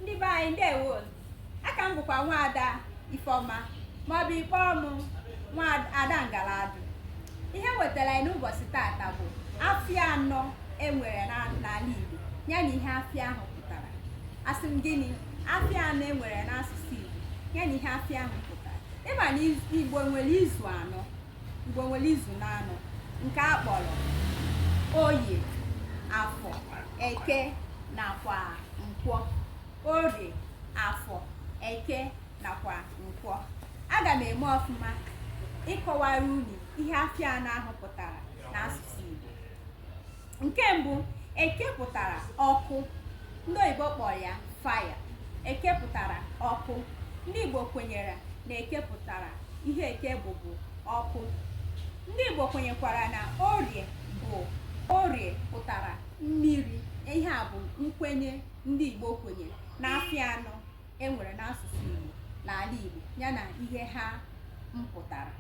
ndị be anyị ndewo aka m bụkwa nwaada Ifeọma maọbụ ị kpọọ mụ nwaada ngaladụ ihe m wetara anyị n'ụbọchị tata bụ afịa anọ e nwere n'ala Igbo ya na ihe afịa ahụ pụtara asị m gịnị afịa anọ e nwere n'asụsụ Igbo ya na ihe afịa ahụ pụtara ị ma na Igbo nwere izu anọ Igbo nwere izu n'anọ nke a kpọrọ oye afọ eke nakwa nkwọ oye afọ eke nakwa nkwọ aga m eme ọfụma ịkọwara unu ihe afịa anọ ahụ pụtara n'asụsụ Igbo nke mbụ eke pụtara ọkụ ndị oyibo kpọrọ ya fire eke pụtara ọkụ ndị Igbo kwenyere na eke pụtara ihe eke bụ bụ ọkụ ndị Igbo kwenyekwara na orie bụ orie pụtara mmiri ihe a bụ nkwenye ndị Igbo kwenyere na afịa anọ e nwere n'asụsụ Igbo n'ala Igbo ya na ihe ha mpụtara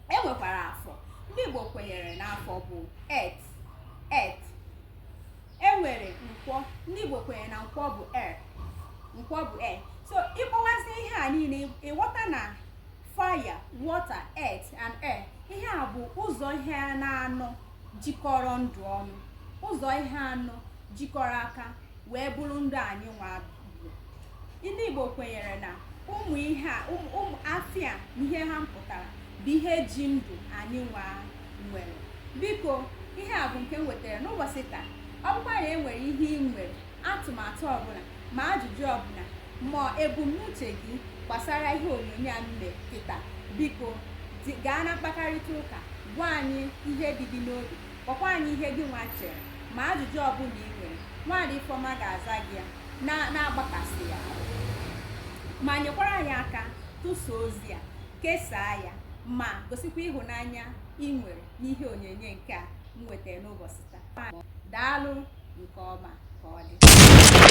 e nwekwara afọ ndị Igbo kwenyere na afọ bụ earth earth e nwere nkwọ ndị Igbo kwenyere na nkwọ bụ air nkwọ bụ air so ị kpọwazie ihe a niile ị ghọta na fire water earth and air ihe a bụ ụzọ ihe n'anọ jikọrọ ndụ ọnụ ụzọ ihe anọ jikọrọ aka wee bụrụ ndụ anyị nwa ndị Igbo kwenyere na ụmụ ihe a ụmụ afịa na ihe ha mpụtara bụ ihe ji ndụ anyị nwa nwere biko ihe a bụ nke m wetara n'ụbọchị taa ọ bụkwa na e nwere ihe ị nwere atụmatụ ọbụla ma ajụjụ ọbụla ma ebumnuche gị gbasara ihe onyonyo a m mere kịta biko gaa na mkpakarịta ụka gwa anyị ihe dị gị n'obi kọkwa anyị ihe gị nwa chere ma ajụjụ ọbụla ị nwere nwaada Ifeọma ga-aza gị ya na-agbakasị ya ma nyekwara anyị aka tụsa ozi a kesaa ya ma gosikwa ịhụnanya ị nwere n'ihe onyonyo nke a m wetara n'ụbọchị taa daalụ nke ọma ka ọ dị